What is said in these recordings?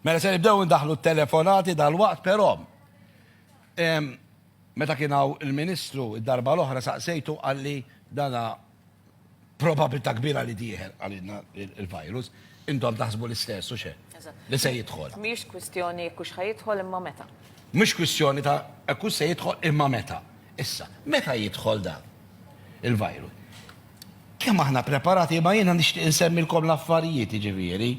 Mela se nibdew ndaħlu t-telefonati dal-waqt, però meta kien hawn il-Ministru id-darba l-oħra saqsejtu għalli dana probabilità kbira li dieħel għalina il-virus, intom taħsbu l-istess u xe? Li se jidħol. Mhix kwistjoni jekk hux jidħol imma meta. Mhux kwistjoni ta' hekk se jidħol imma meta. Issa, meta jidħol dan il-virus? Kemm aħna preparati, imma jiena nixtieq insemmilkom l-affarijiet, jiġifieri,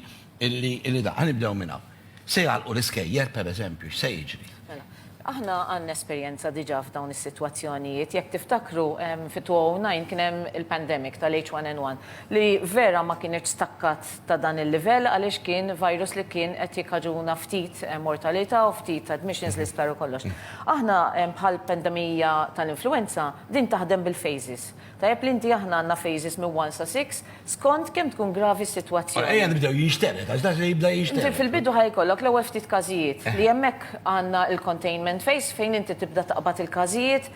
illi, illi da. Ħa nibdew minn hawn. Se jagħlqu l-iskejjel, pereżempju, x'se jiġri? Mela, aħna għandna esperjenza diġà f'dawn is-sitwazzjonijiet. Jekk tiftakru, fit-2009 kien hemm il-pandemic tal-H1N1, li vera ma kinitx stakkat ta' dan il-livell għaliex kien virus li kien qed jikkaġuna ftit mortalità u ftit admissions l-isptar u kollox. Aħna, bħall-pandemija tal-influwenza, din taħdem bil-phases. Tajjeb li inti aħna għandna phases minn one sa six skont kemm tkun gravi s-sitwazzjoni. Mela ejja nibdew jinxtered għax dak li jibda jinxtered. Inti fil-bidu ħa jkollok l-ewwel ftit każijiet li hemmhekk għandna l-containment phase fejn inti tibda taqbad il-każijiet,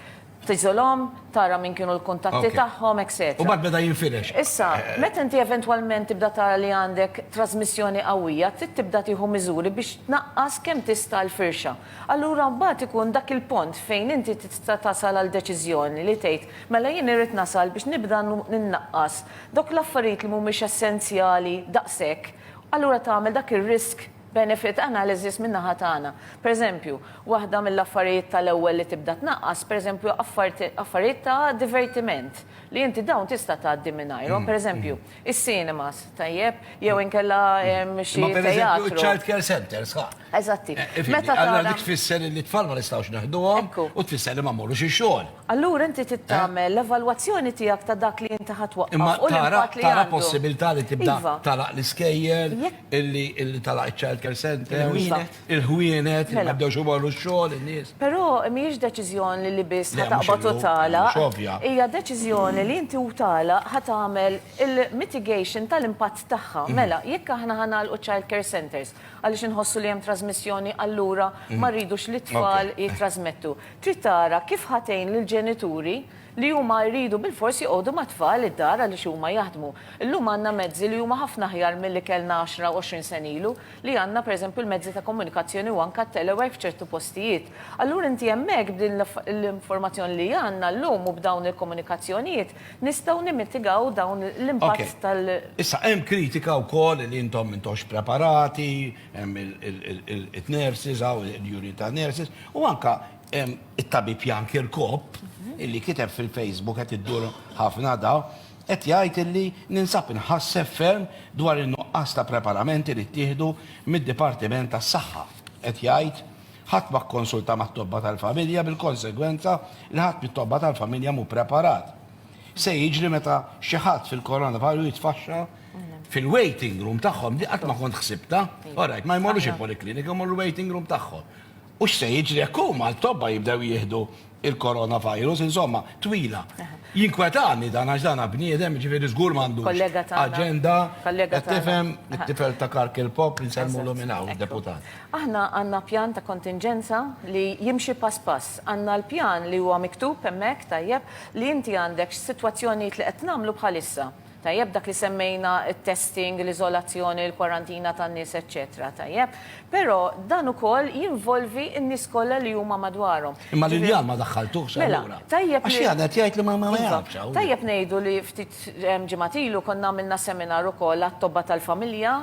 tiżolhom, tara min kienu l-kuntatti tagħhom, etc. U mbagħad meta jinfirex. Issa, meta inti eventwalment tibda tara li għandek trażmissjoni qawwija, trid tibda tieħu miżuri biex tnaqqas kemm tista' l-firxa. Allura mbagħad ikun dak il-pont fejn inti tista' tasal għal deċiżjoni li tgħid, mela jien irrid nasal biex nibda nnaqqas dawk l-affarijiet li mhumiex essenzjali daqshekk, allura tagħmel dak ir-risk benefit analysis min-naħa tagħna. Pereżempju, waħda mill-affarijiet tal-ewwel li tibda tnaqqas, pereżempju affarijiet ta' divertiment li inti dawn tista' tgħaddi mingħajrhom, pereżempju, is-cinemas, tajjeb, jew inkella xi teatru. Imma pereżempju ċ-childcare centres, ħa? Eżatti. Meta tara. Allora tfisser li t-tfal ma nistgħux neħduhom u tfisser li ma mmorrux ix-xogħol. Allura inti tittamel l-evalwazzjoni tiegħek ta' dak li inti ħadd waqqaf. Imma tara tara possibilità li tibda tagħlaq l-iskejjel, illi tagħlaq iċ-child care center, il-ħwienet, li ma jibdewx imorru x-xogħol in-nies. Però mhijiex deċiżjoni li biss ħa taqbad u tagħlaq. Hija deċiżjoni li inti u tagħlaq ħa tagħmel il-mitigation tal-impatt tagħha. Mela, jekk aħna ħa nagħlqu child care centers, Għaliex inħossu li hemm trażmissjoni allura ma rridux li t-tfal jittrażmettu. Trid tara kif ħa tgħin lill-ġenituri li huma jridu bilfors joqogħdu mat-tfal id-dar għaliex huma jaħdmu. Illum għandna mezzi li huma ħafna aħjar milli kellna għaxra u għoxrin sena ilu li għandna pereżempju l-mezzi ta' komunikazzjoni u anke t-telework f'ċertu postijiet. Allura inti hemmhekk b'din l-informazzjoni li għandna llum u b'dawn il-komunikazzjonijiet Nistgħu nimmitigaw dawn l-impatt tal-. Issa hemm kritika wkoll li intom m'intux preparati, hemm it-nurses hawn, il-unit ta' nurses, u anke hemm it-tabib Jan Kirkop illi kiteb fil-Facebook qed iddur ħafna da, qed jgħid illi ninsab inħasseb ferm dwar in-nuqqas ta' preparamenti li ttieħdu mid-Dipartiment tas-Saħħa, qed jgħid. Ħadd ma kkonsulta mat-tobba tal-familja bil-konsegwenza li ħadd mit-tobba tal-familja mhu preparat. Se jiġri meta xi ħadd fil-coronavirus jitfaxxa fil-waiting room tagħhom li qatt ma kont ħsibta. Orajt, ma jmorrux il-poliklinika, jmorru l-waiting room tagħhom. U x'se jiġri jekk huma l-tobba jibdew jieħdu il-coronavirus, insomma, twila. Jinkwetani dan għax dan bniedem, ġifieri żgur m'għandux. Kollega tagħna. Aġenda. Kollega tagħna. Tifhem it-tifel ta' Kark il-Pop li nsellmulu minn hawn, deputat. Aħna għandna pjan ta' kontinġenza li jimxi pass pass. Għandna l-pjan li huwa miktub hemmhekk tajjeb li inti għandek x'sitwazzjonijiet li qed nagħmlu bħalissa. Tajjeb, dak li semmejna, it-testing, l-iżolazzjoni, l-kwarantina tan-nies, eċċetera Tajjeb. Però dan ukoll jinvolvi n-nies kollha li huma madwarhom. Imma l-injam ma daħħaltuhx allura? Mela, tajjeb li. Għax Jan qed jgħid li ma jgħidx hawn. Tajjeb ngħidu li ftit ġimgħat ilu konna għamilna seminar ukoll għat-tobba tal-familja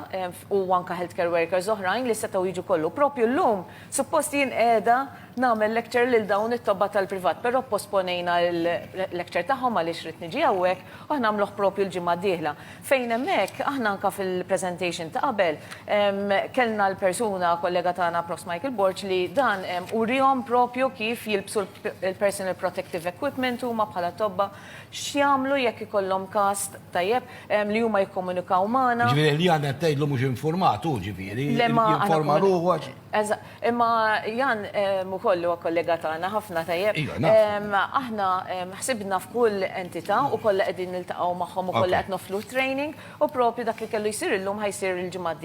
u anke healthcare workers oħrajn li setgħu jiġu kollha. U proprju llum suppost jien qiegħda nagħmel lecture lil dawn it-tobba tal-privat, però pposponejna l-lecture tagħhom għaliex ridt niġi hawnhekk u aħna nagħmluh proprju l-ġimgħa d-dieħla, fejn hemmhekk aħna anke fil-presentation ta' qabel kellna l-persuna, kollega tagħna Prof. Michael Borg, li dan uriehom proprju kif jilbsu l-personal protective equipment huma bħala tobba, x'jagħmlu jekk ikollhom każ, tajjeb, li huma jikkomunikaw magħna. Jiġifieri li aħna qed tgħidlu mhux infurmat hu, ġifieri, jinforma ruħu għax. Eżatt. Imma Jan ukoll li huwa kollega tagħna ħafna tajjeb. Iva, naf. Aħna ħsibna f'kull entità u kollha qegħdin niltaqgħu magħhom u kollha qed noffru t-training u proprju dak li kellu jsir illum ħa jsir il-ġimgħa d-dieħla.